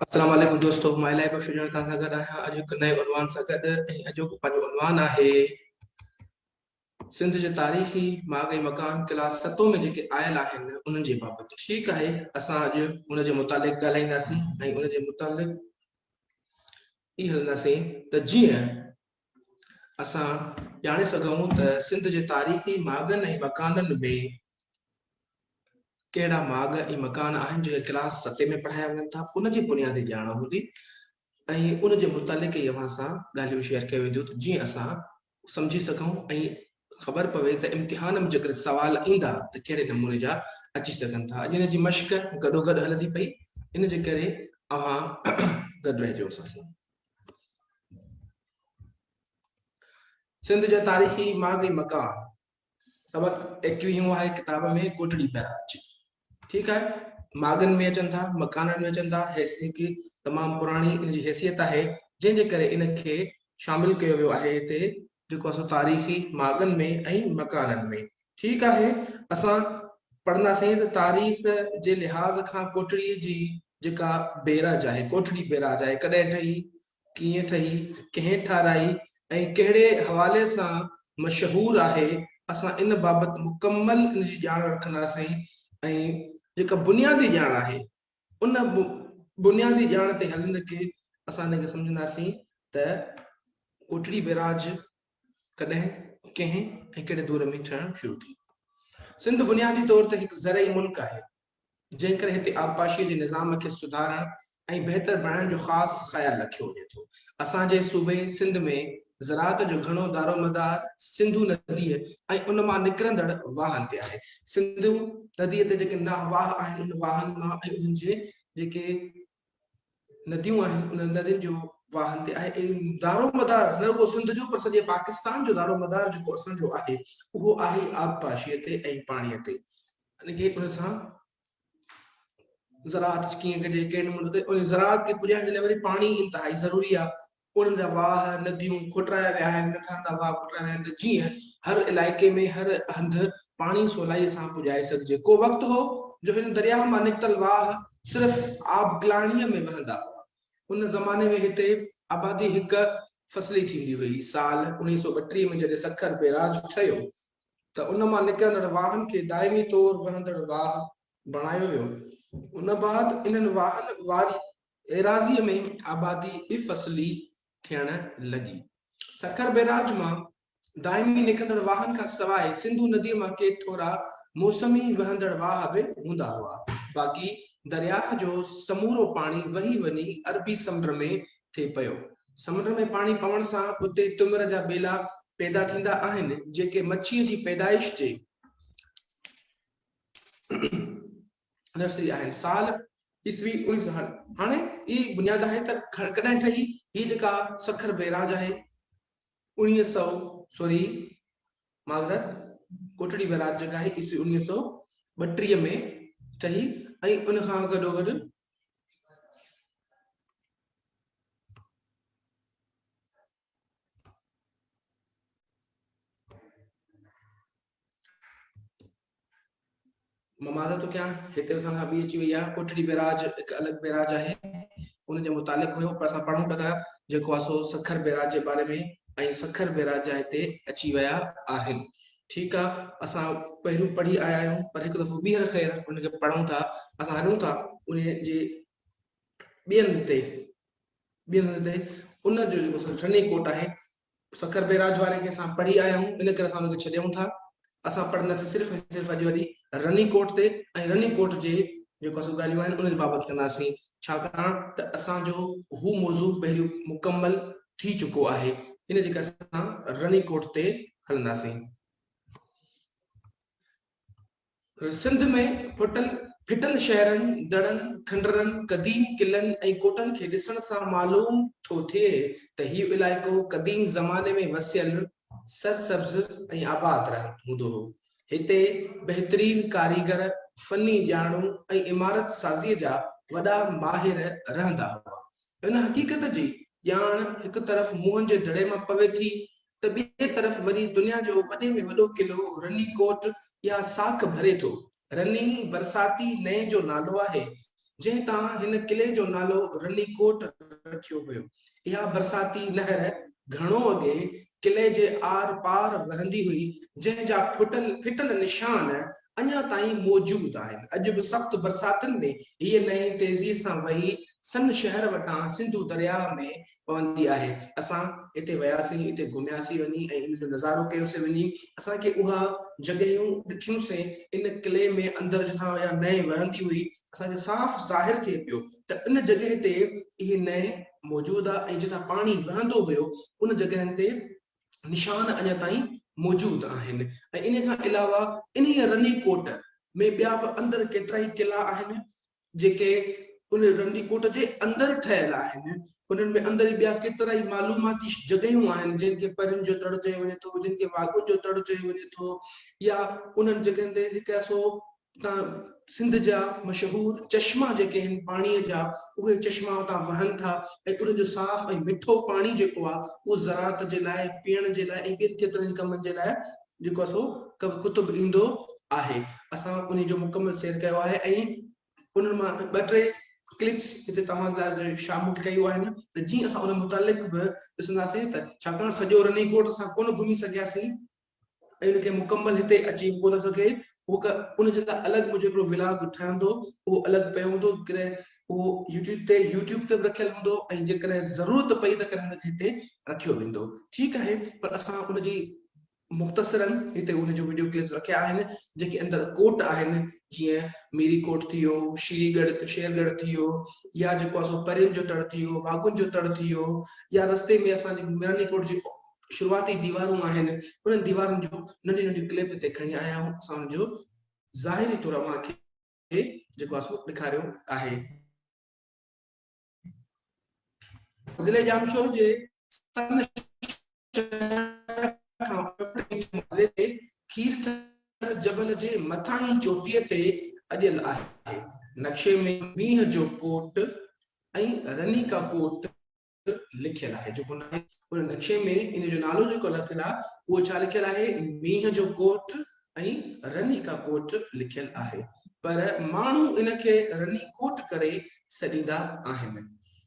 السلام عليڪم دوستو مان الائي بخش جوڻيجو توهان سان گڏ آهيان اڄ هڪ نئين عنوان سان گڏ ۽ اڄوڪو پنهنجو عنوان آهي سنڌ جي تاريخي ماڳ ۽ مڪان ڪلاس ستون ۾ جيڪي آيل آهن انهن جي بابت ٺيڪ آهي اسان اڄ ان جي متعلق ڳالهائينداسين ۽ ان جي متعلق هي هلنداسين ته جيئن اسان ڄاڻي سگهون ته سنڌ جي تاريخي ماڳن ۽ مڪانن ۾ ڪهڙا ماڳ ۽ مڪان آهن جيڪي ڪلاس ستين ۾ پڙهايا وڃن ٿا ان جي بنيادي ڄاڻ هوندي ۽ ان جي متعلق ئي اوهان سان ڳالهيون شيئر ڪيون وينديون ته جيئن اسان سمجهي سگهون ۽ خبر پوي ته امتحان ۾ جيڪڏهن سوال ايندا ته ڪهڙي نموني جا اچي سگهن ٿا اڄ ان جي مشق گڏو گڏ هلندي پئي ان جي ڪري اوهان گڏ رهجو اسان سان سنڌ جا تاريخي ماڳ ۽ مقام سبق ايڪويهون آهي ڪتاب ۾ ڪوٽڙي پيا اچي ٺيڪ آهي ماڳن ۾ اچن ٿا مڪانن ۾ اچن ٿا حيثيت تمام پراڻي ان جي حيثيت آهي جنهن جي ڪري ان کي شامل ڪيو ويو آهي هتي جيڪو اسان تاريخي ماڳن ۾ ۽ مڪانن ۾. ٺيڪ آهي، اسان پڙهنداسين ته تاريخ جي لحاظ کان ڪوٽڙيء جي جيڪا بيراج آهي، ڪوٽڙي بيراج آهي، ڪڏهن ٺهي، ڪيئن ٺهي، ڪنهن ٺاهرائي ۽ ڪهڙي حوالي سان مشهور آهي، اسان ان بابت مڪمل ان جي ڄاڻ رکنداسين ۽ جيڪا بنيادي ڄاڻ آهي، ان بنيادي ڄاڻ تي هلندي ڪي اسان ان کي سمجهنداسين ته ڪوٽڙي بيراج ڪڏهن ڪنهن ۽ ڪهڙي دور ۾ ٺهڻ شروع ٿي سنڌ بنيادي طور تي هڪ زرعي ملڪ آهي جنهن ڪري هتي آبپاشي جي نظام کي سڌارڻ ۽ بهتر بڻائڻ جو خاص خيال رکيو وڃي ٿو اسان جي صوبي سنڌ ۾ زراعت جو گهڻو دارومدار سنڌو نديء ۽ ان مان نڪرندڙ واهن تي آهي. سنڌو نديء تي جيڪي ناهه واهه آهن، انهن واهن مان ۽ انهن جي جيڪي نديون آهن، انهن ندين جو واهن تي آهي. دارومدار نه رڳو سنڌ جو پر سڄي پاڪستان جو دارومدار جيڪو اسان جو آهي، اهو آهي ئي آبپاشيء تي ۽ پاڻيء تي. يعني ڪي ان سان زراعت ڪيئن ڪجي، ڪهڙي نموني ڪجي. زراعت کي پڄائڻ جي لاء وري پاڻي انتهائي ضروري آهي. انهن جا واهه، نديون، کوٽرايا ويا آهن، ننڍا ننڍا واهه کوٽرايا ويا آهن ته جيئن هر علائقي ۾ هر هنڌ پاڻي سولائيء سان پڄائي سگهجي. ڪو وقت هو جو هن درياهه مان نڪتل واهه صرف آبگلاڻيء ۾ وهندا هئا. ان زماني ۾ هتي آبادي هڪ فصلي ٿيندي هئي. سال اڻويهه سؤ ٻٽيهه ۾ جڏهن سکر بيراج ٺهيو ته ان مان نڪرندڙ واهن کي دائمي طور وهندڙ واهه بڻايو ويو. ان بعد انهن واهن واري ايراضيء ۾ آبادي ٻه فصلي ٿيڻ لڳي. سکر بئراج مان دائمي نڪرندڙ واهن کان سواء سنڌو نديء مان ڪي ٿورا موسمي وهندڙ واهه به هوندا هئا، باقي درياهه جو سمورو پاڻي وهي وڃي عربي سمنڊ ۾ ٿي پيو. سمنڊ ۾ پاڻي پوڻ سان اتي تمر جا ٻيلا پيدا ٿيندا آهن، جيڪي مڇيء جي پيدائش جي. نرسري آهي سال عيسوي اڻيهه سو هن هاڻي ئي بنياد آهي ته ڪڏهن ٺهي هي جيڪا سکر بيراج آهي اڻيهه سو سوري معذرت ڪوٽڙي بيراج جيڪا آهي عيسوي اڻيهه سو ٻٽيهه ۾ ٺهي ۽ ان کان گڏو گڏ ممازه تو ڪيان هتي اسان سان ابي اچي وئي آ ڪوٽڙي بيراج هڪ الڳ بيراج آهي ان جي متعلق هيو پر اسان پڙهون پتا جيڪو آسو سکر بيراج جي باري ۾ ۽ سکر بيراج جا هتي اچي ويا آهن ٺيڪ آ اسان پهريون پڙهي آيا آهيون پر هڪ دفعو ٻيهر خير ان کي پڙهون ٿا اسان هلون ٿا ان جي ٻين تي ٻين تي ان جو جيڪو سني ڪوٽ آهي سکر بئراج واري کي اسان پڙهي آيا آهيون ان ڪري اسان ان کي ڇڏيون ٿا اسان پڙهنداسين صرف ۽ صرف اڄ وڏي رني ڪوٽ تي ۽ رني ڪوٽ جي جيڪو اسان ڳالهيون آهن ان جي بابت ڪنداسين ڇاڪاڻ ته اسان جو هو موضوع پهريون مڪمل ٿي چڪو آهي ان جي ڪري اسان رني ڪوٽ تي هلنداسين سنڌ ۾ ڦٽل ڦٽل شهرن، دڙن، کنڊرن، قديم قلعن ۽ ڪوٽن کي ڏسڻ سان معلوم ٿو ٿئي ته هي علائقو قديم زماني ۾ وسيل، سرسبز ۽ آباد رهند هوندو هو. هتي بهترين ڪاريگر، فني ڄاڻو ۽ عمارت سازيء جا وڏا ماهر رهندا هئا. ان حقيقت جي ڄاڻ هڪ طرف موهن جي دڙي مان پوي ٿي ته ٻئي طرف وري دنيا جو وڏي ۾ وڏو قلعو رني ڪوٽ يا ساک ڀري ٿو. رني برساتي نئين جو نالو آهي، جنهن تان هن قلعي جو نالو رني ڪوٽ رکيو ويو. اها برساتي نهر گهڻو اڳي قلعي جي آر پار وهندي هئي، جنهن جا ڦٽل نشان اڃا تائين موجود آهن. اڄ به سخت برساتن ۾ هيء نئين تيزيء سان وهي سن شهر وٽان سنڌو درياهه ۾ پوندي آهي اسان اتي وياسين اتي گهمياسين وڃي ۽ ان جو نظارو ڪيوسين وڃي اسان کي اها جڳهيون ڏٺيون سين ان قلعي ۾ اندر جتان اها نئين وهندي هئي اسان کي صاف ظاهر ٿئي پيو ته ان جڳهه تي اهي نئين موجود آهي ۽ جتان پاڻي وهندو هيو ان جڳهن تي نشان اڃا تائين موجود آهن ۽ ان کان علاوه انهيء رني ڪوٽ ۾ ٻيا به اندر ڪيترائي قلعا آهن جيڪي ان رني ڪوٽ جي اندر ٺهيل آهن انهن ۾ اندر ٻيا ڪيترائي معلوماتي جڳهيون آهن جن کي پرين جو تڙ چيو وڃي ٿو جن کي واڳون جو تڙ چيو وڃي ٿو يا انهن جڳهين تي جيڪا سو اتان سنڌ جا مشهور چشما جيڪي آهن پاڻيء جا اهي چشما اتان وهن ٿا ۽ انهن جو صاف ۽ مٺو پاڻي جيڪو آهي اهو زراعت جي لاء پيئڻ جي لاء ۽ ٻين ڪيترن ئي ڪمن جي لاء جيڪو آهي سو ڪتب ايندو آهي اسان انهي جو مڪمل سير ڪيو آهي ۽ انهن مان ٻه ٽي ڪلپس هتي توهان لاء شامل ڪيون آهن ته جيئن اسان ان متعلق به ڏسنداسين ته ڇاڪاڻ سڄو رني ڪوٽ اسان ڪونه گهمي سگهياسين ۽ ان کي مڪمل هتي اچي ڪو نه سگهي هو ڪه ان جي لاء الڳ منهنجو هڪڙو ولاگ ٺهندو اهو الڳ پيو هوندو ڪڏهن اهو يوٽيوب تي يوٽيوب تي به رکيل هوندو ۽ جيڪڏهن ضرورت پئي ته ڪڏهن ان کي هتي رکيو ويندو ٺيڪ آهي پر اسان ان جي مختصرن هتي ان جو ويڊيو ڪلپس رکيا آهن جيڪي اندر ڪوٽ آهن جيئن ميري ڪوٽ ٿي ويو شيري ڳڙ شير ڳڙ ٿي ويو يا جيڪو اسو پرين جو تڙ ٿي ويو واگن جو تڙ ٿي ويو يا رستي ۾ اسان جي ميراني ڪوٽ جي شروعاتي ديوارون آهن انهن ديوارن جون ننڍيون ننڍيون ڪلپ هتي کڻي آيا آهيون اسان انهن جو ظاهري طور اوهان کي جيڪو آهي سو ڏيکاريو آهي ضلعي ڄامشوري جي کير ٿر جبل جي مٿانهين چوٽيء تي اڏيل آهي نقشي ۾ مينهن جو ڪوٽ ۽ رني ڪا ڪوٽ لکيل آهي جيڪو ناهي ان نقشي ۾ ان جو نالو جيڪو لکيل آهي اهو ڇا لکيل آهي مينهن جو ڪوٽ ۽ رني کا ڪوٽ لکيل آهي پر ماڻهو ان کي رني ڪوٽ ڪري سڏيندا آهن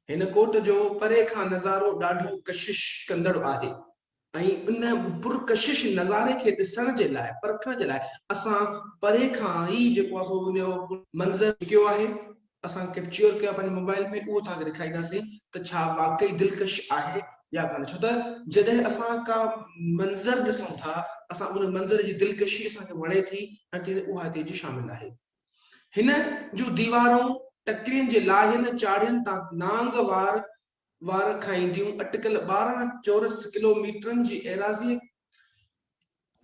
هن ڪوٽ جو پري کان نظارو ڏاڍو ڪشش ڪندڙ آهي ۽ ان پرڪشش نظاري کي ڏسڻ جي لاء، پرکڻ جي لاء اسان پري کان ئي جيڪو آهي سو ان جو منظر چڪيو آهي، اسان ڪئپچيور ڪيو آهي پنهنجي موبائيل ۾ اهو توهان کي ڏيکارينداسين ته ڇا واقعي دلڪش آهي يا ڪانه ڇو ته جڏهن اسان ڪا منظر ڏسون ٿا اسان ان منظر جي دلڪشي اسان کي وڻي ٿي ۽ تيڙي اها هتي جي شامل آهي. هن جون ديوارون ٽڪرين جي لاهين چاڙهين تان نانگ وار وار کائينديون اٽڪل ٻارهن چورس ڪلو ميٽرن جي ايراضيء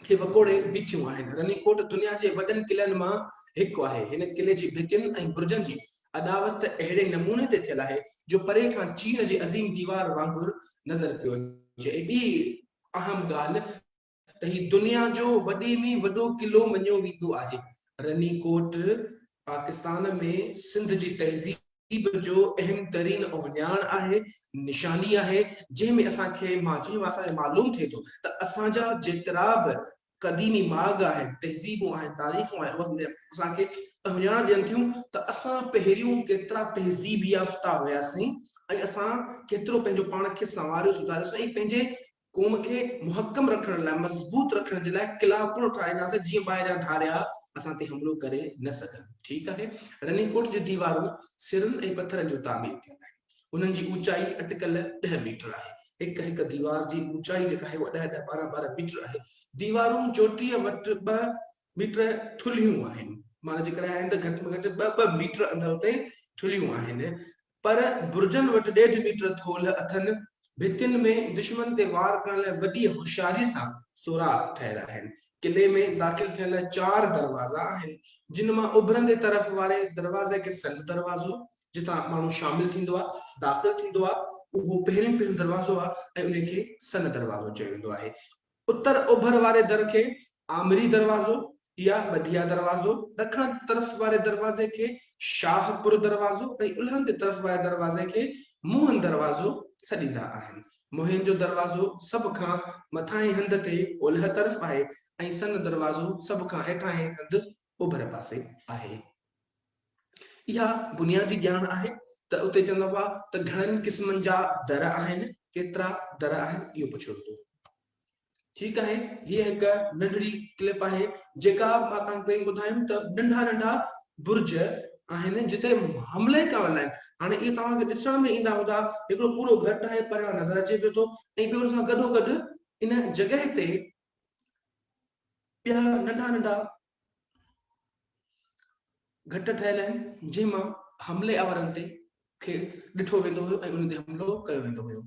کي وڪوڙي بيٺيون آهن. رني ڪوٽ دنيا جي وڏن قلعن مان هڪ آهي. هن قلعي جي ڀتين ۽ برجن جي اڏاوت ته اهڙي نموني تي ٿيل آهي جو پري کان چين جي عظيم ديوار وانگر نظر پيو اچي ۽ ٻي اهم ڳالهه، ته هي دنيا جو وڏي ۾ وڏو قلعو مڃيو ويندو آهي. رني ڪوٽ پاڪستان ۾ سنڌ جي تهذيب جو اهم ترين اوهڃاڻ آهي، نشاني آهي، جنهن ۾ اسان کي مان جنهن مان اسان کي معلوم ٿئي ٿو ته اسان جا جيترا به قديمي ماڳ آهن، تهذيبون آهن، تاريخون آهن اهي اسان کي اوهڃاڻ ڏين ٿيون ته اسان پهريون ڪيترا تهذيب يافته هياسين ۽ اسان ڪيترو پنهنجو پاڻ کي سنواريو سڌاريوسين ۽ پنهنجي قوم کي محڪم رکڻ لاء، مضبوط رکڻ جي لاء قلعا پڻ اٺارينداسين جيئن ٻاهريان ڌاريا اسان تي حملو ڪري نه سگهن. ٺيڪ آهي. رني ڪوٽ جون ديوارون سرن ۽ پٿرن جون تعمير ٿيل آهن. انهن جي اوچائي اٽڪل ڏهه ميٽر آهي. هڪ هڪ ديوار جي اوچائي جيڪا آهي اها ڏهه ڏهه ٻارهن ٻارهن ميٽر آهي. ديوارون چوٽيء وٽ ٻه ميٽر ٿلهيون آهن. معنيٰ جيڪڏهن آهن ته گهٽ ۾ گهٽ ٻه ٻه ميٽر اندر اتي ٿلهيون آهن. پر برجن وٽ ڏيڍ ميٽر ٿولهه اٿن، ڀتين ۾ دشمن تي وار ڪرڻ لاء وڏيء هوشياريء سان سوراخ ٺهيل آهن. قلعي ۾ داخل ٿيڻ لاء چار دروازا آهن، جن مان اڀرندي طرف واري دروازي کي سنڌ دروازو، جتان ماڻهو شامل ٿيندو آهي، داخل ٿيندو آهي، اهو پهريون پهريون دروازو آهي ۽ ان کي سنڌ دروازو چيو ويندو آهي. اتر اوڀر واري در کي آمري دروازو يا ٻڌيا دروازو، ڏکڻ طرف واري دروازي کي شاهه پور دروازو ۽ الهندي طرف واري دروازي کي موهن دروازو سڏيندا آهن. موهن جو دروازو سڀ کان مٿانهين هنڌ تي اولهه طرف آهي ۽ سن دروازو سڀ کان هيٺانهين هنڌ اوڀر پاسي آهي. اها بنيادي ڄاڻ آهي ته اتي چوندا هئا ته گهڻن قسمن جا در آهن، ڪيترا در آهن اهو پڇيو ويندو. ٺيڪ آهي هيء هڪ ننڍڙي ڪلپ آهي جيڪا مان توهان کي پهرين ٻڌايم ته ننڍا ننڍا برج آهن جتي حملي ڪرڻ لاء هاڻي اهي توهان کي ڏسڻ ۾ ايندا هوندا هڪڙو پورو گهٽ آهي پريان نظر اچي پيو ٿو ۽ ٻيو ان سان گڏو گڏ ان جڳهه تي ٻيا ننڍا ننڍا گهٽ ٺهيل آهن جنهن مان حملي آورن تي کي ڏٺو ويندو هيو ۽ انهن تي حملو ڪيو ويندو هيو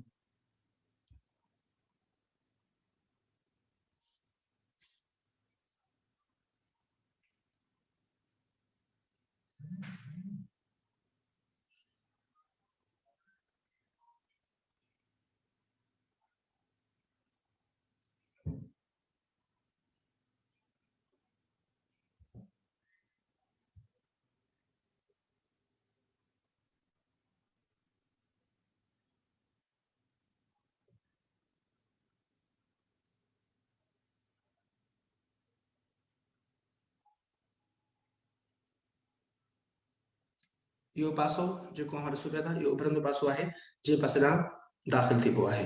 اهو پاسو جيڪو اوهان ڏسو پيا ٿا اهو اڀرندو پاسو آهي جنهن پاسي ڏانهن داخل ٿئبو آهي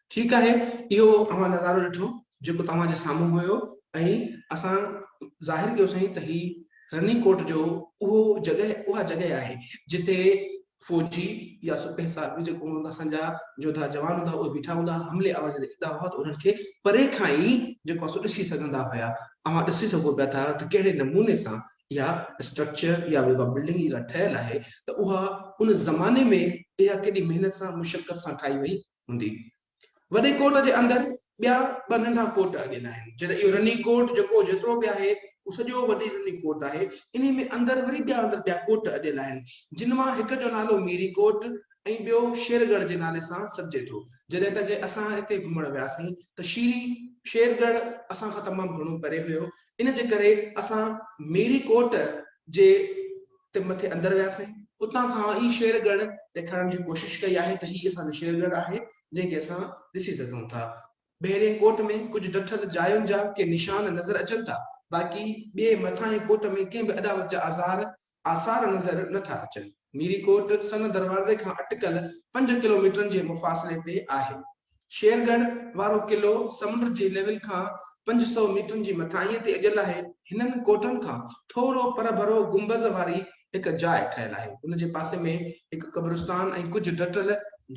ٺيڪ آهي اهو اوهان نظارو ڏٺو جيڪو توهان جي سامهون هيو ۽ اسان ظاهر ڪيو سائين ته هي رني ڪوٽ جو اهو جڳهه اها جڳهه آهي جتي فوجي يا سپهه صاحب به جيڪو هوندا اسان جا جوڌا جوان هوندا اهي بيٺا هوندا حملي آور جڏهن ايندا هئا ته انهن کي پري کان ئي جيڪو اسو ڏسي سگهندا هيا اوهان ڏسي سگهو پيا ٿا ته ڪهڙي نموني سان اها اسٽرڪچر يا اها بلڊنگ جيڪا ٺهيل آهي ته اها ان زماني ۾ اها ڪيڏي محنت سان مشقت سان ٺاهي وئي هوندي. وڏي ڪوٽ جي اندر ٻيا ٻه ننڍا ڪوٽ اڳين آهن. جڏهن اهو رني ڪوٽ جيڪو جيترو به آهي اهو سڄو وڏي رني ڪوٽ آهي. انهي ۾ اندر وري ٻيا اندر ٻيا ڪوٽ اڏيل آهن. جن مان هڪ جو نالو ميري ڪوٽ ۽ ٻيو شير ڳڙهه جي نالي سان سڏجي ٿو. جڏهن ته جي اسان اتي گهمڻ وياسين ته شيري شير ڳڙهه اسان کان تمام گهڻو پري هيو. ان جي ڪري اسان ميري ڪوٽ جي تي مٿي اندر وياسين. اتان کان ئي شير ڳڙهه ڏيکارڻ جي ڪوشش ڪئي آهي ته هي اسان جو شير ڳڙهه آهي جنهن کي اسان ڏسي سگهون ٿا. ٻهرئين ڪوٽ ۾ ڪجهه ڊٺل جاين جا ڪي نشان نظر اچن ٿا باقي ٻئي مٿانهين ڪوٽ ۾ ڪنهن به اڏاوت جا آزار، آثار، نظر نه ٿا اچن. ميري ڪوٽ سن دروازي کان اٽڪل پنج ڪلوميٽرن جي مفاصلي تي آهي. شير ڳڙهه وارو قلعو سمنڊ جي ليول کان پنج سؤ ميٽرن جي مٿاهينء تي اڏيل آهي. هنن ڪوٽن کان ٿورو پرڀرو گنبذ واري هڪ جاء ٺهيل آهي. ان جي پاسي ۾ هڪ قبرستان ۽ ڪجهه ڊٽل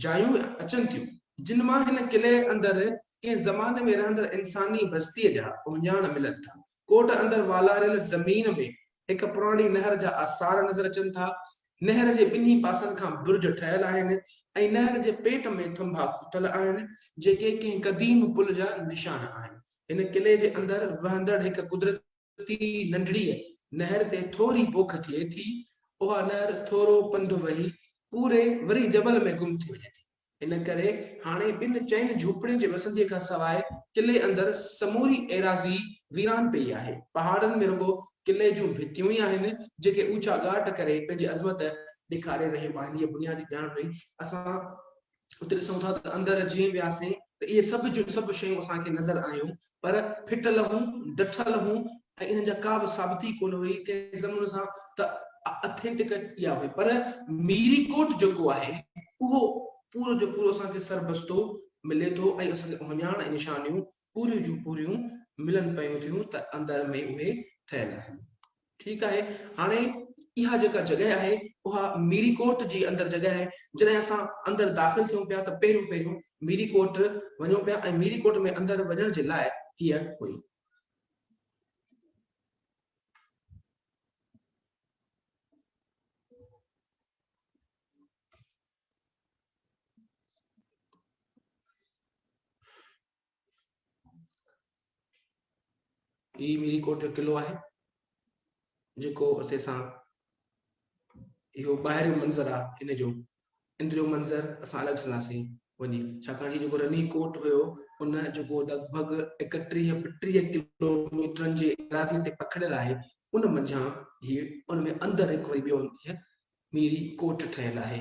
جايون اچن ٿيون، جن مان هن قلعي اندر ڪنهن زماني ۾ رهندڙ انساني بستيء جا اهڃاڻ ملن ٿا. ڪوٽ اندر والاريل زمين ۾ هڪ پراڻي نهر جا آثار نظر اچن ٿا. نهر جي ٻنهي پاسن کان برج ٺهيل آهن ۽ نهر جي پيٽ ۾ ٿنڀا کوٽل آهن، جيڪي ڪنهن قديم پل جا نشان آهن. هن قلعي جي اندر وهندڙ هڪ قدرتي ننڍڙيء نهر تي ٿوري پوک ٿئي ٿي. اها نهر ٿورو پنڌ وهي پوري وري جبل ۾ گم ٿي وڃي ٿي. ان ڪري هاڻي ٻن چئن جهوپڙين جي وسنديء کان سواء قلعي اندر سموري ايراضي ويران پيئي آهي. پهاڙن ۾ رڳو قلعي جون ڀتيون ئي آهن، جيڪي اوچا ڳاٽ ڪري پنهنجي عظمت ڏيکاري رهيون آهن. هيء بنيادي ڄاڻ پئي اسان اتي ڏسون ٿا ته اندر جيئن وياسين ته اهي سڀ جون سڀ شيون اسان کي نظر آيون. پر ڦٽل هون، ڊٺل هون ۽ انهن جا ڪا به ثابتي ڪونه هئي، ڪنهن زمن سان ته اٿينٽڪ اها هئي پر ميري ڪوٽ جيڪو آهي اهو پورو جو پورو اسان کي سربستو ملي ٿو ۽ اسان کي اهڃاڻ ۽ نشانيون پوريون جون پوريون ملن پيون ٿيون ته اندر ۾ اهي ٺهيل آهن. ٺيڪ آهي هاڻي اها جيڪا جڳهه آهي اها ميري ڪوٽ جي اندر جڳهه آهي جڏهن اسان اندر داخل ٿيون پيا ته پهريون پهريون ميري ڪوٽ وڃون پيا ۽ ميري ڪوٽ ۾ اندر وڃڻ جي لاء هيء هئي هي ميري ڪوٽ جو قلعو آهي جيڪو اسي سان اهو ٻاهريو منظر آهي ان جو اندريو منظر اسان الڳ سنداسين وڃي ڇاڪاڻ جو جيڪو رني ڪوٽ هيو ان جيڪو لڳ ڀڳ اڪٽيهه ٽيهه ڪلوميٽرن جي ايراضي تي پکڙيل آهي ان منجهان هي ان ۾ اندر هڪ وري ٻيو ميري ڪوٽ ٺهيل آهي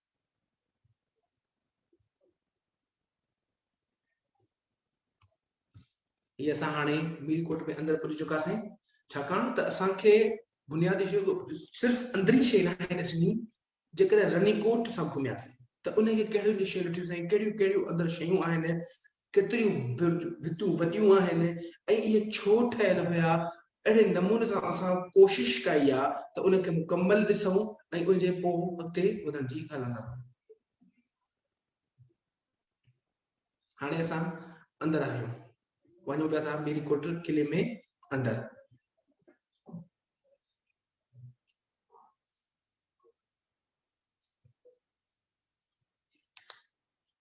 هي اسان هاڻي مير ڪوٽ ۾ اندر پهچي چڪاسين ڇاڪاڻ ته اسان کي بنيادي شيء صرف اندرين شيء نه آهي ڏسڻي جيڪڏهن رني ڪوٽ سان گهمياسين ته ان کي ڪهڙيون ڏشيون ڏٺيون سائين ڪهڙيون ڪهڙيون اندر شيون آهن ڪيتريون برج ڀتون وڏيون آهن ۽ اهي ڇو ٺهيل هيا، اهڙي نموني سان اسان ڪوشش ڪئي آ ته ان کي مڪمل ڏسون ۽ ان جي پوء اڳتي وڌندي هلنداسون. هاڻي اسان اندر آهيون. وڃون پيا ٿا ميري ڪوٽ قلعي ۾ اندر.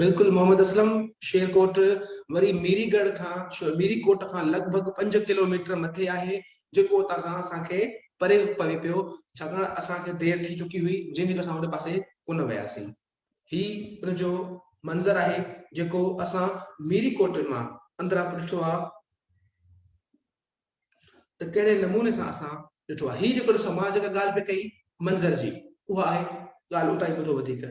بلڪل محمد اسلم شير ڪوٽ وري ميري ڳڙھ کان ميري ڪوٽ کان لڳ ڀڳ پنج ڪلوميٽر مٿي آھي جيڪو اتان کان اسان کي پري پوي پيو ڇاڪاڻ اسان کي دير ٿي چڪي ھئي جنھن ڪري اسان ان پاسي ڪونه وياسين ھي ان جو منظر آھي جيڪو اسان ميري ڪوٽ مان اندران به ڏٺو آ ته ڪهڙي نموني سان اسان ڏٺو آ ھي جيڪو سماج ۾ ڳالھ پئي ڪئي منظر جي اها آھي ڳالھ اتان ئي ٻڌو وڌيڪ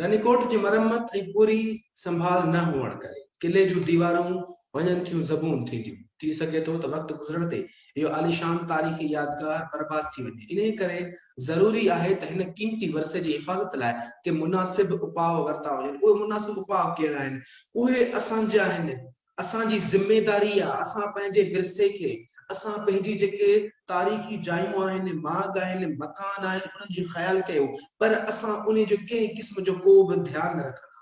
رنيڪوٽ جي مرمت ۽ پوري سنڀال نه هئڻ ڪري قلعي جون ديوارون وڃن ٿيون زبون ٿينديون، ٿي سگهي ٿو ته وقت گذرڻ تي اهو عاليشان تاريخي يادگار برباد ٿي وڃي، انهي ڪري ضروري آهي ته هن قيمتي ورثي جي حفاظت لاء ڪي مناسب اپاء ورتا وڃن، اهي مناسب اپاء ڪهڙا آهن؟ اهي اسان جي آهن اسان جي ذميداري آ اسان پنهنجي ورثي کي اسان پنهنجي جيڪي تاريخي جايون آهن ماڳ آهن مڪان آهن انهن جي خيال ڪيو پر اسان انهي جو ڪنهن قسم جو ڪو به ڌيان نه رکندا آهيون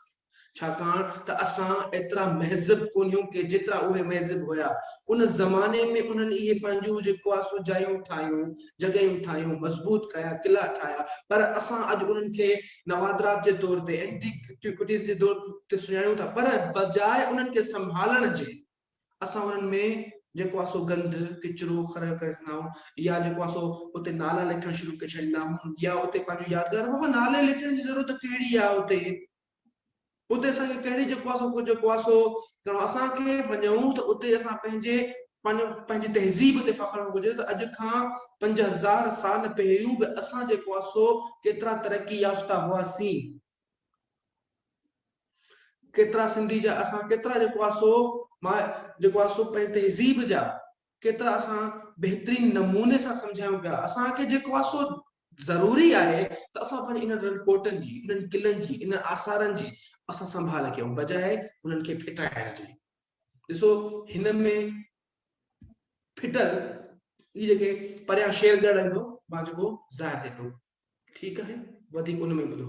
ڇاڪاڻ ته اسان ايترا مهذب ڪونهيون ڪي جيترا اهي مهذب هيا ان زماني ۾ انهن اهي پنهنجون جيڪو آ سو جايون ٺاهيون جڳهيون ٺاهيون مضبوط ڪيا قلعا ٺاهيا پر اسان اڄ انهن کي نوادرات جي طور تي، Antiquities جي طور تي سڃاڻيون ٿا پر بجاء انهن کي سنڀالڻ جي اسان انهن ۾ جيڪو آهي سو گند، ڪچرو خريو ڪري ڇڏيندا آهيون يا جيڪو آهي سو اتي نالا لکڻ شروع ڪري ڇڏيندا آهيون يا اتي پنهنجون يادگارون، بابا نالي لکڻ جي ضرورت ڪهڙي آهي اتي؟ اتي اسان کي ڪهڙي جيڪو آهي سو ڪجهه جيڪو آهي سو ڪرڻو اسان کي وڃون ته اتي اسان پنهنجي پنهنجي تهذيب تي فخر هئڻ گهرجي ته اڄ کان پنج هزار سال پهريون به اسان جيڪو آهي سو ڪيترا ترقي يافته هئاسين ڪيترا سنڌي جا اسان ڪيترا جيڪو آهي سو مان جيڪو آهي سو پنهنجي تهذيب جا ڪيترا اسان بهترين نموني سان سمجهايون پيا. اسان کي جيڪو آهي سو ضروري آهي ته اسان پنهنجي انهن رنڪوٽن جي، انهن قلعن جي، انهن آثارن جي اسان سنڀال ڪيون بجاء انهن کي ڦٽائڻ جي. ڏسو هن ۾ ڦٽل هي جيڪي پريان شير ڳڙهه ايندو مان جيڪو ظاهر ٿئي پيو ٺيڪ آهي وڌيڪ ان ۾ ٻڌو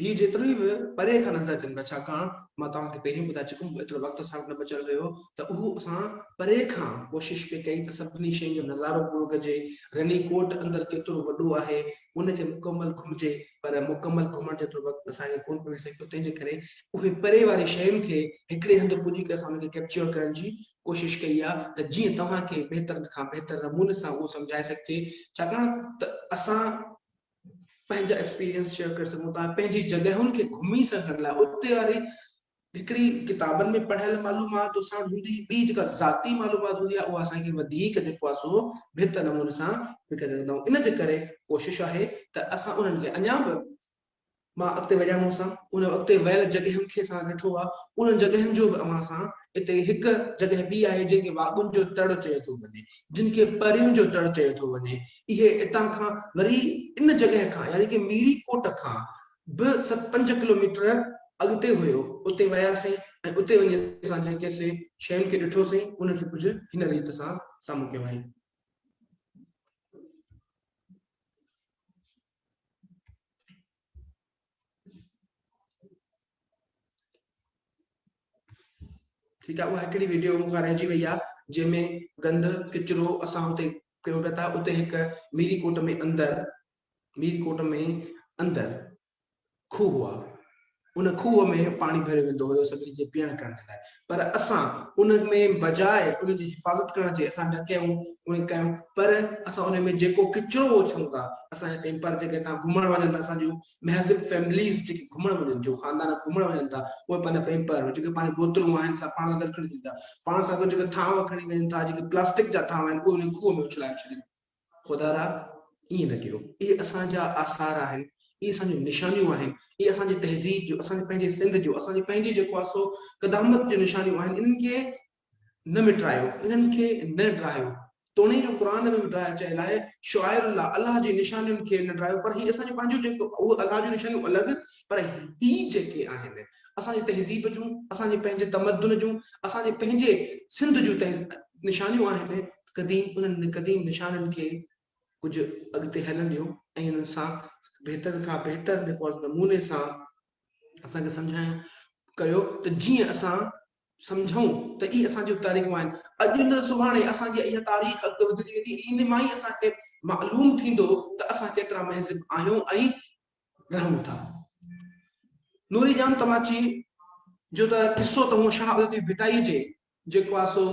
هي جيترو ئي پري کان نظر اچن پيا ڇاڪاڻ مان توهان کي پهريون ٻڌائي چڪم هو ايترو وقت اسان وٽ نه بچيل هيو ته اهو اسان پري کان ڪوشش پي ڪئي ته سڀني شين جو نظارو پورو ڪجي رني ڪوٽ اندر ڪيترو وڏو آهي ان کي مڪمل گهمجي پر مڪمل گهمڻ جيترو وقت اسان کي ڪون ملي سگهيو تنهن جي ڪري اهي پري واري شين کي هڪڙي هنڌ پڄي ڪري اسان ان کي ڪيپچر ڪرڻ جي ڪوشش ڪئي آ ته جيئن توهان کي بهتر کان بهتر نموني سان اهو سمجهائي سگهجي ڇاڪاڻ ته اسان پنهنجا ايڪسپيرينس شيئر ڪري سگهون ٿا پنهنجي جڳهن کي گهمي سگهڻ لاء اتي واري هڪڙي ڪتابن ۾ پڙهيل معلومات اسان وٽ هوندي ٻي جيڪا ذاتي معلومات هوندي آهي اها اسان کي وڌيڪ جيڪو آهي سو بهتر نموني سان وڪڻي سگهندا آهيون ان جي ڪري ڪوشش آهي ته اسان انهن کي اڃا به مان اڳتي ويا هئسان، انهن اڳتي ويل جڳهين کي سان ڏٺو آهي، انهن جڳهين جو به اوهان سان اتي هڪ جڳهه ٻي آهي جنهن کي واڳن جو تڙ چيو ٿو وڃي، جنهن کي پرين جو تڙ چيو ٿو وڃي، اهي اتان کان وري ان جڳهه کان يعني ڪي ميري ڪوٽ کان به ست پنج ڪلوميٽر اڳتي هيو، اتي وياسين ۽ اتي وڃي اسان جن ڪي سين شين کي ڏٺو سين انهن کي ڪجهه هن ريت سان سامهون ڪيو هئائين. ٺيڪ آ اها هڪڙي ويڊيو مون کان رهجي وئي آ جنهن ۾ گند ڪچرو اسان هتي ڪيون پيا ٿا اتي هڪ ميري ڪوٽ ۾ اندر ميري ڪوٽ ۾ اندر کوهه هئا، ان کوهه ۾ پاڻي ڀريو ويندو هيو سڀني جي پيئڻ ڪرڻ جي لاء پر اسان ان ۾ بجاء ان جي حفاظت ڪرڻ جي اسان ڍڪيون اهي ڪيون پر اسان ان ۾ جيڪو ڪچرو اڇلون ٿا اسان جا ڪيمپر جيڪي هتان گهمڻ وڃن ٿا اسان جون مهذب فيمليز جيڪي گهمڻ وڃن جو خاندان گهمڻ وڃن ٿا اهي پنهنجا پيمپر جيڪي پاڻي بوتلون آهن سا پاڻ سان گڏ کڻي وڃن ٿا پاڻ سان گڏ جيڪي ٿانو کڻي وڃن ٿا جيڪي پلاسٽڪ جا ٿانو آهن اهي ان کوهه ۾ اڇلائي ڇڏين خدا را! ائين نه ڪيو. اهي اسان جا آثار آهن، اهي اسان جون نشانيون آهن، اهي اسان جي تهذيب جون، اسان جي پنهنجي سنڌ جون، اسان جي پنهنجي جيڪو آهي سو قدامت جون نشانيون آهن، انهن کي نه مٽرايو، انهن کي نه ڊاهيو. توڻي جو قرآن ۾ به ڊاهيو چيل آهي، شعائر الله، الله جي نشانين کي نه ڊاهيو، پر هي اسان جون پنهنجون جيڪو اهي الله جون نشانيون الڳ، پر هي جيڪي آهن اسان جي تهذيب جون، اسان جي پنهنجي تمدن جون، اسان جي پنهنجي سنڌ جون نشانيون آهن، قديم انهن قديم نشانن کي ڪجهه اڳتي هلڻ ڏيو ۽ انهن سان بهتر کان بهتر نموني سان اسان کي سمجهايو ڪريو ته جيئن اسان سمجهون ته اي اسان جون تاريخون آهن اڄ نه سڀاڻي اسان جي اها تاريخ اڳتي وڌندي ويندي ان مان ئي اسان کي معلوم ٿيندو ته اسان ڪيترا مهذب آهيون ۽ رهون ٿا نوري جان تماچي جو ته قصو ته هو شاهه عبدالطيف ڀٽائي جي جيڪو آ سو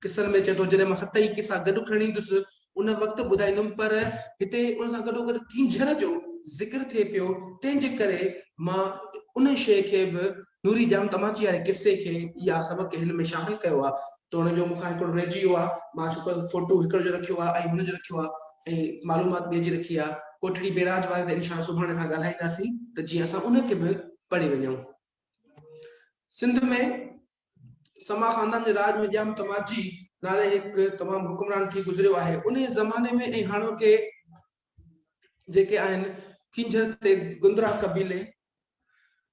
قصن ۾ اچي ٿو. جڏهن مان ست ئي قصا گڏ کڻي ايندس، ان وقت ٻڌائيندم، پر هتي ان سان گڏوگڏ ڪينجهر جو ذڪر ٿئي پيو، تنهن جي ڪري مان ان شيء کي به نوري ڄام تماچي واري قصي کي ئي آ سبق هن ۾ شامل ڪيو آ. توڻي جو مون کان هڪڙو رهجي ويو آ، مان ڇوڪر فوٽو هڪڙو جو رکيو آ ۽ هن جو رکيو آ ۽ معلومات ٻئي جي رکي آ. ڪوٽڙي بئراج واري تي انشاء الله سڀاڻي اسان ڳالهائينداسين ته جيئن اسان ان کي به پڙهي وڃون. سنڌ ۾ سما خاندان جي راڄ ۾ ڄام تماجي نالي هڪ تمام حڪمران ٿي گذريو آهي انهي زماني ۾ ۽ هاڻوڪي جيڪي آهن ڪنجهر تي گندرا قبيلي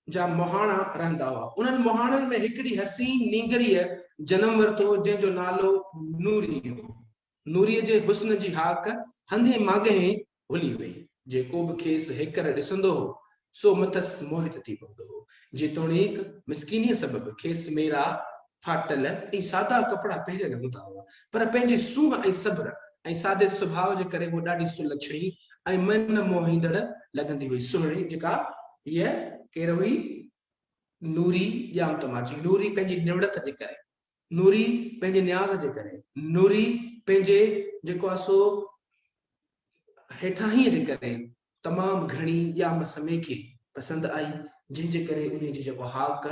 جا مهاڻا رهندا هئا انهن مهاڻن ۾ هڪڙي حسين نينگريء جنم ورتو هو جنهن جو نالو نوري هو نوري جي حسن جي هاڪ هنڌي مانگهين ڀلي وئي، جيڪو به کيس هيڪر ڏسندو هو، سو مٿس موهت ٿي پوندو هو، جيتوڻيڪ مسڪينيء سبب کيس ميرا، ڦاٽل ۽ سادا ڪپڙا پهريل هوندا هئا، پر پنهنجي سونهن ۽ صبر ۽ سادي سڀاء جي ڪري هوء ڏاڍي سلڇڻي ۽ من موهيندڙ لڳندي هئي. سهڻي جيڪا هيء ڪير هئي؟ نوري! ڄام ته مان چئين، نوري پنهنجي نوڙت جي ڪري، نوري پنهنجي نياز جي ڪري، نوري پنهنجي جيڪو آهي سو هيٺاهين جي ڪري تمام گهڻي ڄام سميڪي پسند آئي، جنهن جي ڪري انهي جي جيڪو هاڪ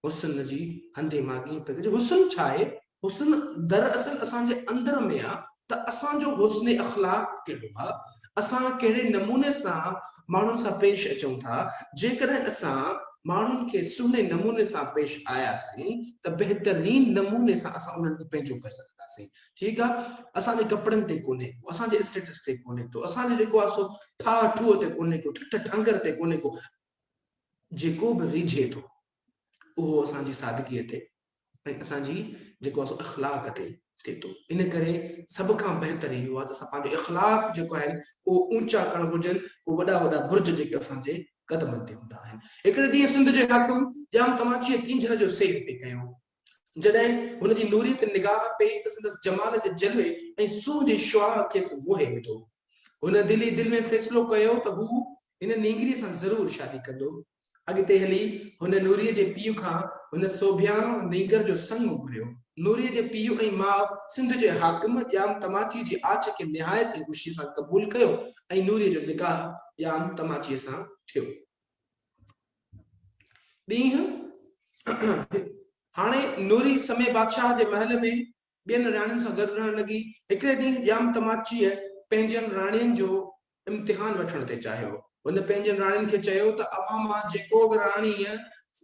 حسن جي هندي ماڳهين پئي ڪجي. حسن ڇا آهي؟ حسن دراصل اسان جي اندر ۾ آ ته اسان جو حسن اخلاق ڪهڙو آ، اسان ڪهڙي نموني سان ماڻهن سان پيش اچون ٿا، جيڪڏهن اسان ماڻهن کي سهڻي نموني سان پيش آياسين ته بهترين نموني سان اسان انهن کي پنهنجو ڪري سگهنداسين. ٺيڪ آ اسان جي ڪپڙن تي ڪونهي ڪو اسان جي اسٽيٽس تي ڪونهي ڪو اسان جو جيڪو آ سو ٺاهه ٺوهه تي ڪونهي ڪو ٺٺ ٺانگر تي ڪونهي ڪو جيڪو به ريجهي ٿو اهو اسان جي سادگي تي ۽ اسان جي جيڪو آ سو اخلاق تي ٿئي ٿو ان ڪري سڀ کان بهتر اهو آ ته اسان پنهنجو اخلاق جيڪو آهن اهو اونچا ڪرڻ گهرجن اهو وڏا وڏا برج جيڪي اسان جي قدمن تي هوندا آهن هڪڙي ڏينهن سنڌ جو حاڪم ڄام تماچيء ڪينجهر جو سير پئي ڪيو جڏهن هن جي نوريء تي نگاهه پئي ته سندس جمال جي جلوي ۽ سونهن جي شعاع کيس موهي وٺو. هن دل ئي دل ۾ فيصلو ڪيو ته هو هن نينگريء سان ضرور شادي ڪندو. اڳتي هلي هن نوريء جي پيء کان هن سوڀيان نينگر جو سڱ گهريو. نوريء جي پيء ۽ ماء سنڌ جي حاڪم ڄام تماچيء جي آڇ کي نهايت ئي خوشيء سان قبول ڪيو ۽ نوريء جو نڪاح ڄام تماچيء سان ٿيو. ڏينهن هاڻي نوري سمي بادشاهه جي محل ۾ ٻين راڻين سان گڏ رهڻ لڳي. هڪڙي ڏينهن ڄام تماچيء پنهنجين راڻين جو امتحان وٺڻ تي چاهيو. هن پنهنجين راڻين کي چيو ته اوهان مان جيڪو به راڻيء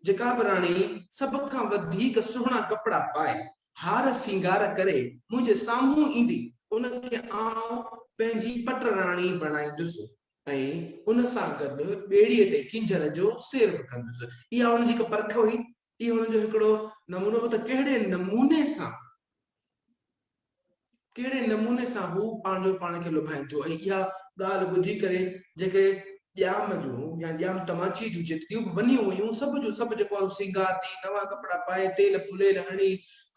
جيڪا به راڻي سڀ کان وڌيڪ سهڻا ڪپڙا پائي، هار سينگار ڪري منهنجي سامهون ايندي، ان کي آئون پنهنجي پٽ راڻي بڻائيندس. ۽ ان سان گڏ ٻيڙيء تي ڪينجهر جو سير به ڪندس. اها هن جي هڪ پرک هئي. اهو هن جو هڪڙو نمونو هو ته ڪهڙي نموني سان ڪهڙي نموني سان هو پنهنجو پاڻ کي لڀائين ٿيو ۽ اها ڳالهه ٻڌي ڪري جيڪي ڄام جون يا ڄام تماچي جون جيتريون به ونيون هيون سڀ جو سڀ جيڪو آهي سينگار ٿي نوان ڪپڙا پائي تيل ڦليل هڻي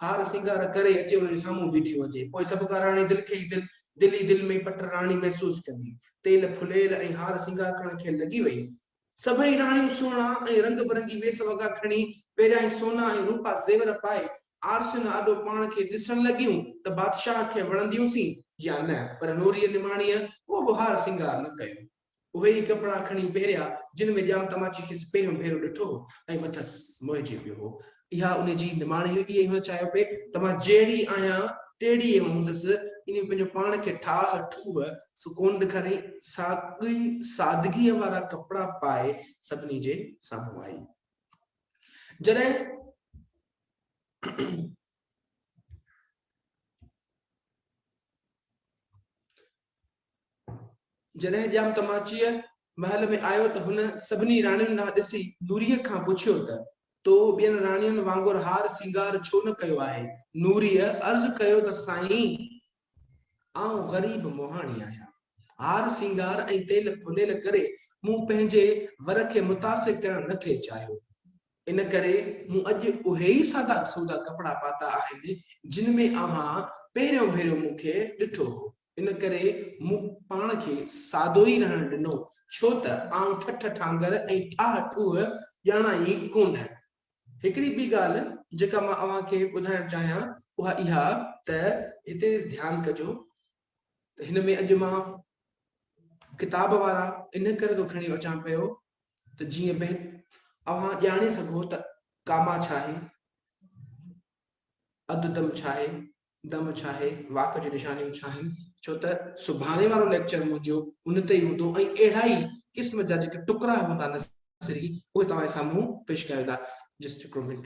هار سينگار ڪري اچي ان جي سامهون بيٺيون هجي پوء سڀ ڪاراڻي دل کي ئي دل دل ئي دل ۾ پٽ راڻي محسوس ڪندي، تيل ڦليل ۽ هار سينگار ڪرڻ کين لڳي وئي. سڀئي راڻيون سهڻا ۽ رنگ برنگي ويس وڳا کڻي، پهريائين سونا ۽ روپا زيور پائي، آرسين آڏو پاڻ کي ڏسڻ لڳيون ته بادشاهه کي وڻنديون سين يا نه، پر نوريء نماڻيء ڪو به هار سينگار نه ڪيو. اهي ئي ڪپڙا کڻي پهريا، جن ۾ ڄام تماچي کيس پهريون ڀيرو ڏٺو هو ۽ مٿس موهجي پيو هو. اها ان جي نماڻي هئي، ائين هن چاهيو پئي ته مان جهڙي آهيان، تهڙي ئي هوندس. ان ۾ پنهنجو پاڻ کي ٺاهه ٺوهه سو ڪونه ڏيکاريائين. ساڳئي سادگيء وارا ڪپڙا پائي سڀني جي سامهون آئي. جڏهن. جڏهن ڄام تماچيء محل ۾ آيو ته هن سڀني راڻين ڏانهن ڏسي نوريء کان پڇيو ته، تو ٻين راڻين وانگر هار سينگار ڇو نه ڪيو آهي؟ نوريء عرض ڪيو ته سائين! آئون غريب مهاڻي آهيان. هار سينگار ۽ تيل ڦليل ڪري مون پنهنجي ور کي متاثر ڪرڻ نه ٿي چاهيو. ان ڪري مون اڄ اهي ئي سادا سودا ڪپڙا پاتا آهن، جن ۾ اوهان پهريون ڀيرو مون کي ڏٺو هو. ان ڪري مون پاڻ کي سادو ئي رهڻ ڏنو، ڇو ته آئون ٺٺ ٺانگر ۽ ٺاهه ٺوهه ڄاڻان ئي ڪونه. هڪڙي ٻي ڳالهه جيڪا مان اوهان کي ٻڌائڻ چاهيان، اها اها ته هتي ڌيان ڪجو ته هن ۾ اڄ مان ڪتاب وارا ان ڪري ٿو کڻي اچان پيو ته جيئن به اوهان ڄاڻي سگهو ته ڪاما ڇا آهي، اڌ دم ڇا آهي، دم ڇا آهي، واڪ جون نشانيون ڇا آهن، ڇو ته سڀاڻي وارو ليڪچر منهنجو ان تي ئي هوندو ۽ اهڙا ئي قسم جا جيڪي ٽڪرا هوندا نثري اهي توهان جي سامهون پيش ڪيا ويندا. جسٽ هڪڙو منٽ.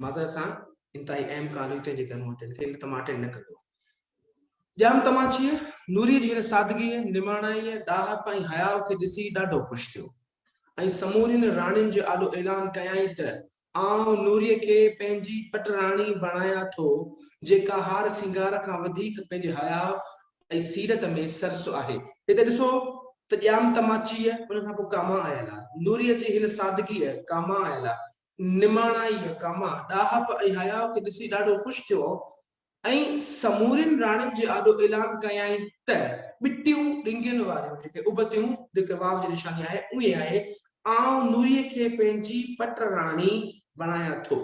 معذرت سان انتهائي اهم ڪال هئي تنهنجي ڪري مون تنهن کي ان تمام اٽينڊ نه ڪندو ڄام تماچيء نوريء جي هن سادگيء نماڻائيء ڏاهپ ۽ حياء کي ڏسي ڏاڍو خوش ٿيو ۽ سمورين راڻين جي آڏو اعلان ڪيائين ته، آئون نوريء کي پنهنجي پٽراڻي بڻايان ٿو، جيڪا هار سينگار کان وڌيڪ پنهنجي حياء ۽ سيرت ۾ سرس آهي. هتي ڏسو ته ڄام تماچيء، ان کان پوء ڪاما آيلا، نوريء جي هن سادگيء، ڪاما آيلا، نماڻائيء، ڪاما، ڏاهپ ۽ حياء کي ڏسي ڏاڍو خوش ٿيو ۽ سمورين راڻين جي آڏو اعلان ڪيائين ته، ٻٽيون ڏنگين واريون جيڪي ابتيون، جيڪي واء جي نشاني آهي، اهي آهي، آئون نوريء کي پنهنجي پٽ راڻي بڻايان ٿو،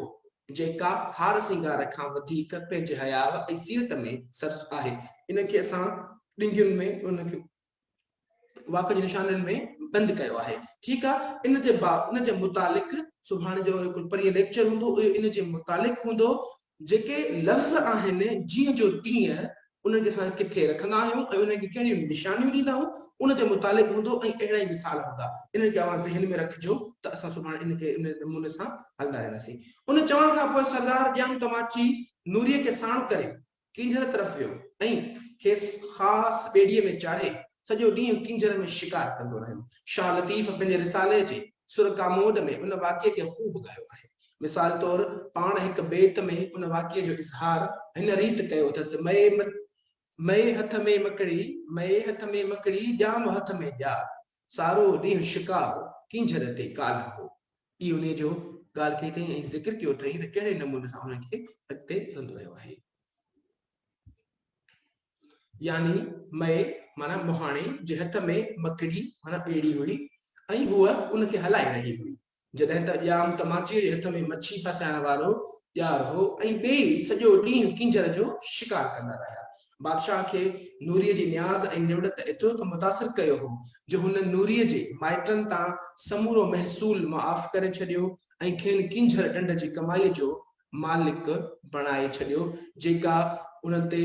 جيڪا هار سينگار کان وڌيڪ پنهنجي حياء ۽ سيرت ۾ سرس آهي، ان کي اسان ڏنگين ۾ ان کي واڪ جي نشانين ۾ بند ڪيو آهي ٺيڪ آ ان جي با ان جي متعلق سڀاڻي جو هڪ پرينء ليڪچر هوندو اهو ان جي متعلق هوندو جيڪي لفظ آهن جيئن جو تيئن انهن کي اسان ڪٿي رکندا آهيون ۽ انهن کي ڪهڙيون نشانيون ڏيندا آهيون ان جي متعلق هوندو ۽ اهڙا ئي مثال هوندا انهن کي اوهان ذهن ۾ رکجو ته اسان سڀاڻي ان کي ان نموني سان هلندا رهنداسين ان چوڻ کان پوء سردار ڄام تماچي نوريء کي ساڻ ڪري ڪينجهر طرف ويو ۽ کيس خاص ٻيڙيء ۾ چاڙهي سڄو ڏينهن ڪينجهر ۾ شڪار ڪندو رهيو. شاهه لطيف پنهنجي رسالي جي سر ڪاموڏ ۾ ان واقعي کي خوب ڳايو آهي. مثال طور پاڻ هڪ بيت ۾ ان واقعي جو اظهار هن ريت ڪيو اٿس، مئي مئي هٿ ۾ مڪڙي، مئي هٿ ۾ مڪڙي، ڄام هٿ ۾ ڄار، سارو ڏينهن شڪار، ڪينجهر تي ڪالهه هو. ٻي انهيء جو ڳالهه ڪئي اٿئي ۽ ذڪر ڪيو اٿئي ته ڪهڙي نموني سان هن کي اڳتي هلندو رهيو آهي. يعني مئي معنيٰ مهاڻي جي هٿ ۾ مڪڙي معنيٰ ٻيڙي هئي ۽ هوء ان کي هلائي رهي هئي. جڏهن ته ڄام تماچيء جي هٿ ۾ مڇي ڦاسائڻ وارو ڄار هو ۽ ٻيئي سڄو ڏينهن ڪينجهر جو شڪار ڪندا رهيا. بادشاهه کي نوريء جي نياز ۽ نوڙت ايترو ته متاثر ڪيو هو جو هن نوريء جي مائٽن تان سمورو محصول معاف ڪري ڇڏيو ۽ کين ڪينجهر ڏنڊ جي ڪمائيء جو مالڪ بڻائي ڇڏيو جيڪا ان تي